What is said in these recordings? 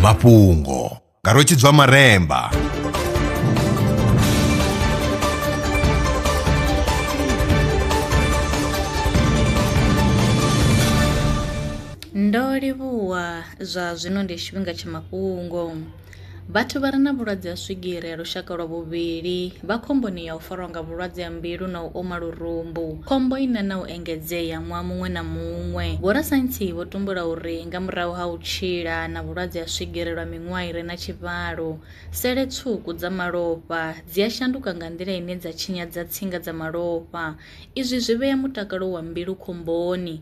mafhungo nga rwetshidzwa maremba ndo livhuwa zwa zwino ndi tshifhinga tsha mafhungo Vhathu vha re na vhulwadze ha swigiri ha lushaka lwa vhuvhili vha khomboni ya u farwa nga vhulwadze ha mbilu na u oma lurumbu, khombo ine na u engedzea ṅwaha muṅwe na muṅwe. Vhorasaintsi vho tumbula uri nga murahu ha u tshila na vhulwadze ha swigiri lwa miṅwaha i re na tshivhalo, sele tswuku dza malofha dzi a shanduka nga nḓila ine dza tshinyadza tsinga dza malofha. Izwi zwi vhea mutakalo wa mbilu khomboni.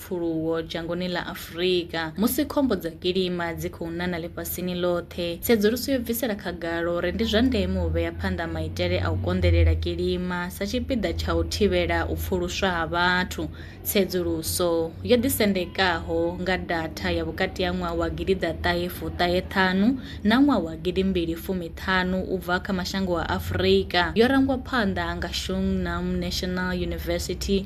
pfuluwo dzhangoni ḽa Afurika. Musi khombo dza kilima dzi khou nana ḽifhasini ḽoṱhe, tsedzuluso yo bvisela khagala uri ndi zwa ndeme u vhea phanḓa maitele a u konḓelela kilima sa tshipiḓa tsha u thivhela u pfuluswa ha vhathu. Tsedzuluso yo ḓisendekaho nga datha ya vhukati ha ṅwaha wa gidi ḓa ṱahe fuṱahe ṱhanu na ṅwaha wa gidi mbili fumi ṱhanu u bva kha mashango a Afurika yo rangwa phanḓa nga Xungnam National University